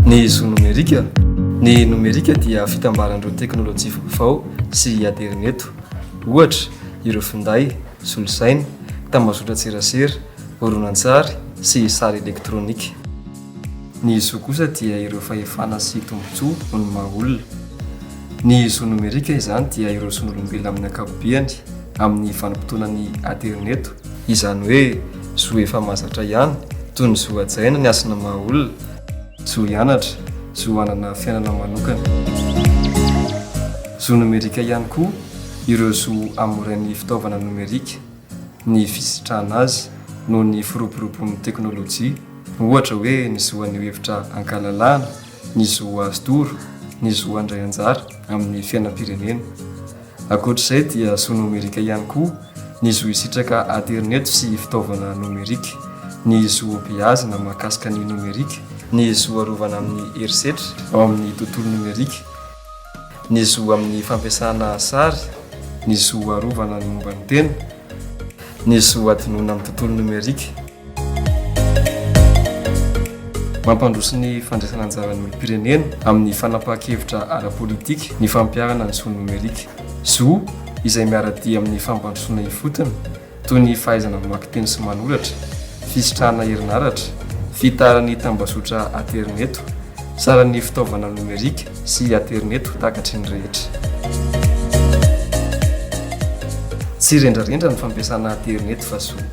Ny zo nomerika Ny nomerika dia fitambaran'ireo teknolojia vaovao sy aterineto. Ohatra, ireo finday, solosaina, tambazotran-tserasera, horonantsary sy sary elektronika. Ny zo kosa dia ireo fahefana sy tombontsoa ho ny maha olona. Ny zo nomerika izany dia ireo zon'olombelona amin'ny ankapobeany amin'ny vanim-potoana ny aterineto, izany hoe zo efa mahazatra ihany, toy ny zo hajaina ny hasina maha olona, zo hianatra, zo hanana fiainana manokana. Zo nomerika ihany koa ireo zo amorain'ny fitaovana nomerika ny fisitrahana azy noho ny firoboroboan'ny teknolojia, ohatra hoe ny zo haneho hevitra an-kalalahana, ny zo azo toro, ny zo handray anjara amin'ny fiainam-pirenena. Ankoatr'izay dia zo nomerika ihany koa ny zo hisitraka aterineto sy fitaovana nomerika, ny zo hobeazina mahakasika ny nomerika, ny zo arovana amin'ny herisetra ao amin'ny tontolo nomerika, ny zo amin'ny fampiasana sary, ny zo arovana ny momba ny tena, ny zo hadinoina amin'ny tontolo nomerika. Mampandroso ny fandraisana anjaran'ny olom-pirenena amin'ny fanapahan-kevitra ara-politika ny fampiharana ny zo nomerika. Zo izay miara-dia amin'ny fampandrosoana ifotony, toy ny fahaizana mamaky teny sy manoratra, fisitrahana herinaratra, fitaran'ny tambazotra aterineto, saran'ny fitaovana nomerika sy aterineto takatry ny rehetra. Tsy rendrarendra ny fampiasana aterineto fa zo.